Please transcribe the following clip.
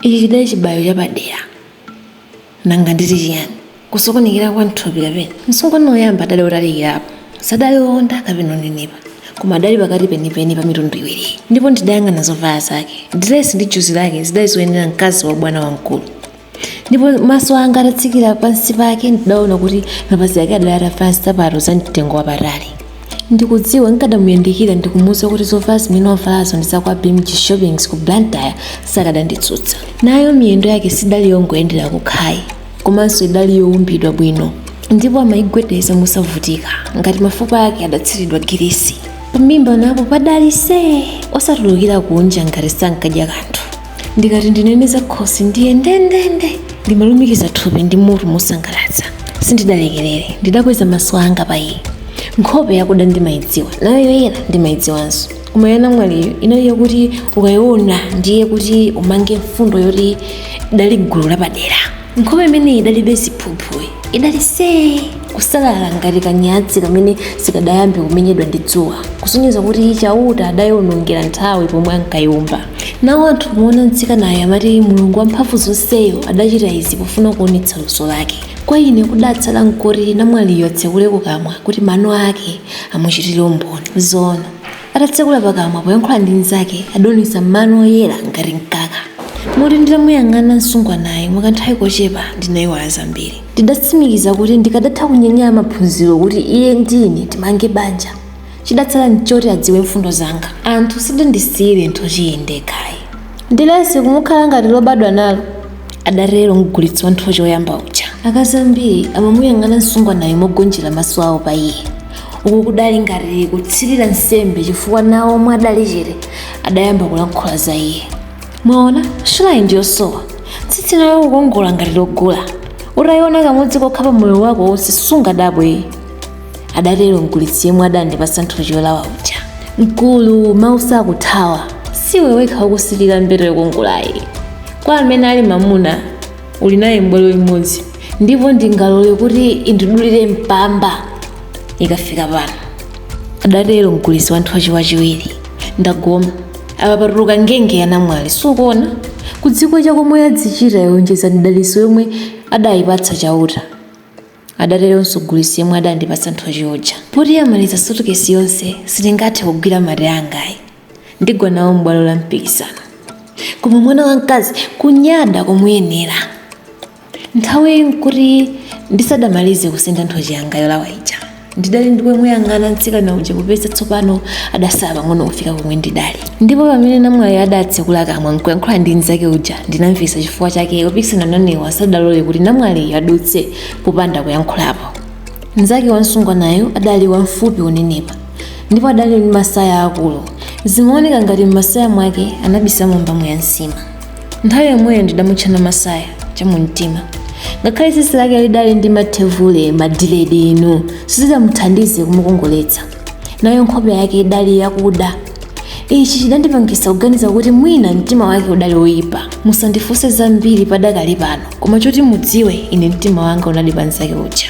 ichi chidali chibayo chapadera nanga nditi chiyani kusokonekera kwa mthupi kapena msungwana woyamba adali otalikirapo sadali owonda kapena onenepa koma adali pakati penipeni pa mitundu iwiriyi ndipo ndidayang'ana zovala zake diresi ndi juzi lake zidali zoyenera mkazi wa bwana wamkulu ndipo maso anga atatsikira pansi pake ndidaona kuti mapazi ake adali atavala nsapato za mtengo wapatali ndikudziwa nkadamuyandikira ndikumuuza kuti zovala zimene wavalazo ndi zakwa bmg shoppings ku blantyre sakadanditsutsa nayo miyendo yake sidali yongoyendera kukhayi komanso idali yowumbidwa bwino ndipo amayigwedeza mosavutika ngati mafupa ake adatsiridwa girisi pamimba napo padali see osatulukira kunja ngati sankadya kanthu ndikati ndinene za khosi ndiye ndendende ndi malumikiza thupi ndi mutu mosangalatsa sindidalekerere ndidakweza maso anga pa iye nkhope yakuda ndimayidziwa nayo yoyera ndimayidziwanso koma ya namwaliyo inali yakuti ukayiona ndiye kuti umange mfundo yoti idali gulu lapadera nkhope imeneyi idalibe ziphuphu yi idali see kusalala ngati kanyatsi kamene sikadayambe kumenyedwa ndi dzuwa kusonyeza kuti chauta adayionongera nthawi pomwe ankayiumba nawo anthu poona mtsikanayo amati mulungu wamphamvu zonseyo adachita izi pofuna kuonetsa luso lake kwa ine kudatsala nkoti namwaliyo atsekule kukamwa kuti mano ake amuchitire umboni zoona Atatsekula pakamwa poyankhula ndi mnzake, adaonetsa mano oyera ngati mkaka. Moti nditamuyang'ana msungwanayo mwakanthawi kochepa ndinaiwala zambiri. Ndidatsimikiza kuti ndikadatha kunyanyala maphunziro kuti iye ndi ine timange banja. Chidatsala n'choti adziwe mfundo zanga. Anthu sadandisiyire nthochiyi ndekha ayi. Dilesi kumukhala ngati lobadwa nalo, adatero mgulitsi wa nthochi woyamba uja. Akazi ambiri amamuyang'ana msungwanayo mogonjera maso awo pa iye. Uku kudali ngati kutsitira nsembe chifukwa nawo omwe adali chete adayamba kulankhula za iye. Mwaona, shulayi ndi yosowa. Tsitsi nalo kukongola ngati logula. Utaiona kamodzi kokha pa moyo wako wonse sungadabwe. adatero mgulitsi yemwe adandipatsa nthochi yolawa uja mkulu mawu sakuthawa siwe wekha wokusilira mbeta yokongolayi kwa amene ali mamuna uli naye mbwalo imodzi ndipo ndingalole kuti indidulire mpamba ikafika pano adatero mgulitsi wa nthochi wachiwiri ndagoma apa patuluka ngenge ya namwali sukuona kudziko chakomwe yadzichita yonjeza ndi daliso yomwe adayipatsa chauta adateronso mgulitsi yemwe adandipatsa nthochi uja. Poti yamaliza sutikesi yonse, sitingathe kugwira mate anga ayi. Ndigwa nawo m'bwalo la mpikisano. Koma mwana wamkazi kunyada komuyenera. Nthawiyi n'kuti ndisadamalize kusenda nthochi yanga yolawa ija. Ndidali ndikumuyang'ana mtsikana uja popeza tsopano adasala pang'ono kufika komwe ndidali. ndipo pamene namwali adatsekula kamwa nkuyankhula ndi mnzake uja ndinamvetsa chifukwa chake opikisana nanewa asadalole kuti namwaliyo adutse popanda kuyankhulapo mnzake wamsungwanayo adali wamfupi wonenepa ndipo adali ndi masaya akulu zimaoneka ngati m'masaya mwake anabisamo mbamu ya nsima nthawi yomweyo ndidamutcha Na masaya chamumtima ngakhale tsitsi lake lidali ndi mathevule madiledi inu sizidamuthandize kumukongoletsa nayo nkhope yake idali yakuda ichi chidandipangisa kuganiza kuti mwina mtima wake udali woyipa musandifunse zambiri padakali pano koma choti mudziwe ine mtima wanga unali pa mzake uja